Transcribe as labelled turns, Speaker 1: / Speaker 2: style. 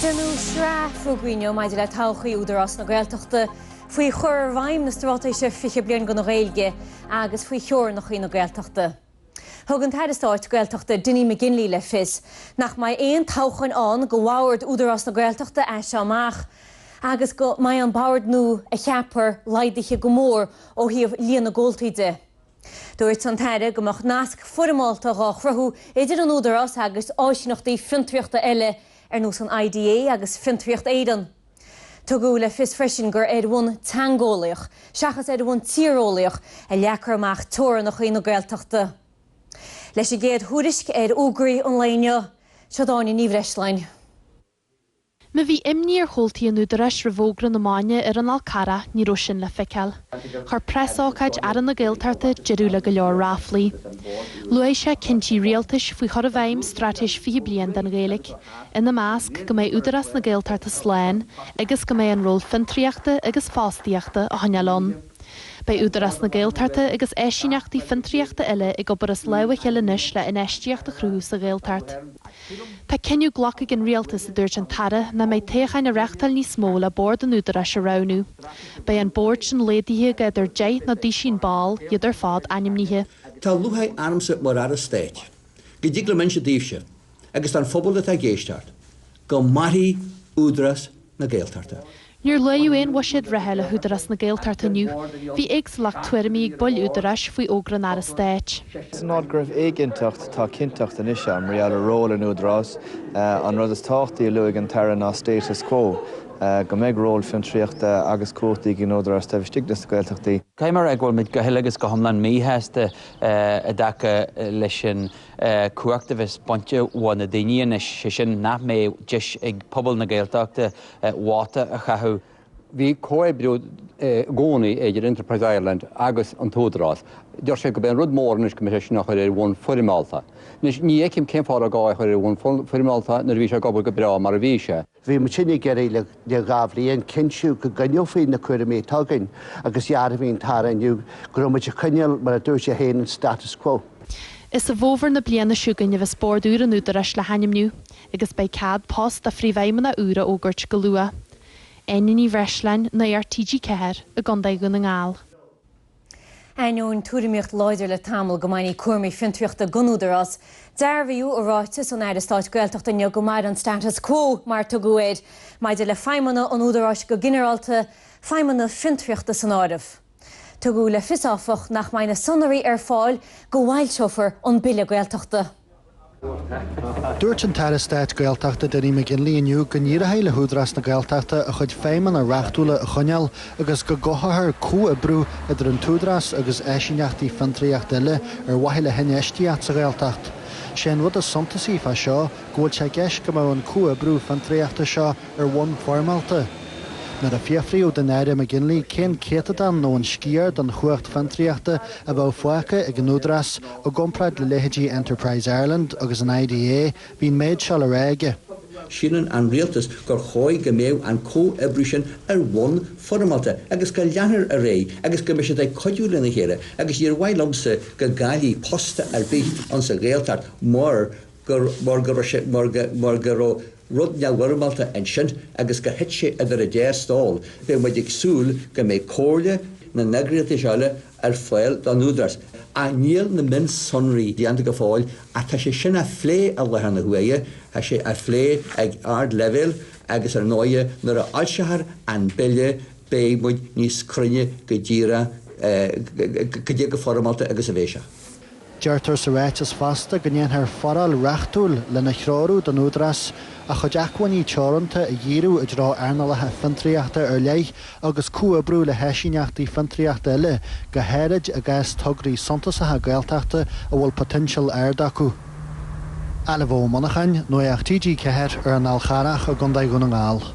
Speaker 1: Déanadh sraith fógraí inniu maidir le todhchaí Údarás na Gaeltachta, faoi chur i bhfeidhm na Straitéise 20 Bliain don Ghaeilge agus faoi theorannachaí na Gaeltachta. Thug an tAire Stáit Gaeltachta Dinny McGinley le fios nach mbeidh aon toghcháin ann do bhord Údarás na Gaeltachta as seo amach agus go mbeidh an bord nua a cheapfar laghdaithe go mór ó thaobh líon na gcomhaltaí de. Dúirt an tAire go mbeadh nasc foirmeálta dhá chruthú idir an Údarás agus áisíneachtaí fiontraíochta eile ar nós an IDA agus Fiontraíocht Éireann. Tugadh le fios freisin gur ar bhonn teangeolaíoch seachas ar bhonn tíreolaíoch a leagfar amach teorannachaí na Gaeltachta. Leis an gcéad thuairisc ar fhógraí an lae inniu, seo í Áine Ní Bhreisleáin.
Speaker 2: Má bhí imní ar chomhaltaí an Údaráis roimh fhógra na maidne ar an Fhál Carrach, ní raibh sin le feiceáil. Chuir preasócáid Aire na Gaeltachta deireadh le go leor ráflaí. Luaigh sé cinntí rialtais faoi chur i bhfeidhm Straitéis 20 Bliain don Ghaeilge, ina measc, go mbeidh Údarás na Gaeltachta slán agus go mbeidh an ról fiontraíochta agus fostaíochta á choinneáil ann. Beidh Údarás na Gaeltachta agus áisíneachtaí fiontraíochta eile ag obair as lámh a chéile anois le infheistíocht a chruthú sa Ghaeltacht. Tá cinneadh glactha ag an rialtas, a dúirt an tAire, nach mbeidh toghcháin á reáchtáil níos mó le bord an Údaráis a roghnú. Beidh an bord sin laghdaithe go idir deich nó duisín ball, iad ar fad ainmnithe. Tá
Speaker 3: lúcháir ormsa mar Aire Stáit go dtig liom inse daoibhse, agus don phobal atá ag éisteacht, go mairfidh Údarás na Gaeltachta. Níor luaíodh
Speaker 2: aon bhuiséad reatha le hÚdarás na Gaeltachta inniu. Bhí éagsúlacht tuairimí ag baill Údaráis faoi fhógra an Aire Stáit. San áit go raibh
Speaker 4: éiginnteacht, tá cinnteacht anois ann mar gheall ar ról an Údaráis. An rud is tábhachtaí a luaigh an tAire ná status quo, go mbeidh ról fiontraíochta agus cumhachtaí ag an Údarás taobh istigh des na Gaeltachtaí. Caithfidh mé a rá go bhfuil
Speaker 5: muid go huile agus go hiomlán míshásta i dtaca leis sin. cumhacht a bheas bainte uaidh na daoine anois, sé sin, nach mbeidh deis ag pobal na Gaeltachta vóta a chaitheamh. Bhí comhoibriú
Speaker 6: i gcónaí idir Enterprise Ireland agus an tÚdarás. Deir sé gurb é an rud mór anois go mbeidh sé sin á chur ar bhonn foirmeálta. Anois, ní fheicim cén fáth a raibh gá é a chur ar bhonn foirmeálta nuair a bhí sé ag obair go breá mar a bhí sé. Bhí muidinne ag
Speaker 7: iarraidh le dhá bhliain, cinntiú go gcoinneofaí na cúraimí atá againn, agus dhearbhaigh an t-aire inniu go raibh muid ag coinneáil, mar a dúirt sé féin, an status quo. Is i bhfómhar
Speaker 2: na bliana seo chugainn a bheas bord úr an Údaráis le hainmniú, agus beidh cead post do phríomhfheidhmeannach úr a fhógairt go luath. Áine Ní Bhreisleáin, Nuacht TG4, i gContae Dhún na nGall.
Speaker 1: Ainneoin tuairimíocht láidir le tamall go mbainfí cúraimí fiontraíochta den Údarás, dearbhaíodh i ráiteas an Aire Stáit Gaeltachta inniu go mairfidh an status quo, mar a tugadh air, maidir le feidhmeanna an Údaráis go ginearálta, feidhmeanna fiontraíochta san áireamh. Tugadh le fios, áfach, nach mbeidh na sonraí ar fáil go bhfoilseofar an Bille Gaeltachta.
Speaker 8: Dúirt an tAire Stáit Gaeltachta Dinny McGinley inniu go n-éireoidh le hÚdarás na Gaeltachta a chuid feidhmeanna reachtúla a choinneáil agus go gcothófar comhoibriú idir an tÚdarás agus áisíneachtaí fiontraíochta eile ar mhaithe le hinfheistíocht sa Ghaeltacht. Sé an rud is suntasaí fá seo go bhfuil sé i gceist go mbeadh an comhoibriú fiontraíochta seo ar bhonn foirmeálta. Nuair a fiafraíodh den Aire McGinley cén céatadán nó an sciar den chumhacht fiontraíochta a bheadh fágtha ag an Údarás, I gcomparáid le leithéidí Enterprise Ireland agus an IDA, bhí an méid seo le rá aige. Síleann an
Speaker 3: rialtas gur chóir go mbeadh an comhoibriú sin ar bhonn foirmeálta agus go leanfar ar aghaidh agus go mbeidh siad ag cuidiú lena chéile agus níor mhaith liomsa go gcaillfí post ar bith insa Ghaeltacht mar gur mar go raibh rud neamhfhoirmeálta ansin agus gur thit sé idir an dá stól, beidh muid ag súil go mbeidh comhairle na n-eagraíochtaí seo eile ar fáil don Údarás. Ach níl na mionsonraí déanta go fóill ach tá sé sin á phlé i láthair na huaire, tá sé á phlé ag ardleibhéal agus ar ndóighe nuair a fhoilseofar an bille beidh muid níos cruinne go díreach cad é chomh foirmeálta agus a bheidh sé. Deirtear
Speaker 8: sa ráiteas fosta go ndéanfar foráil reachtúil lena threorú don Údarás a chuid acmhainní teoranta a dhíriú i dtreo earnálacha fiontraíochta ar leith agus comhoibriú le háisíneachtaí fiontraíochta eile, go háirid i gcás tograí suntasacha Gaeltachta a bhfuil poitéinseal ard acu. Ailbhe Ó Monacháin, Nuacht TG4 ar an Fhál Charrach i gContae Dhún na nGall.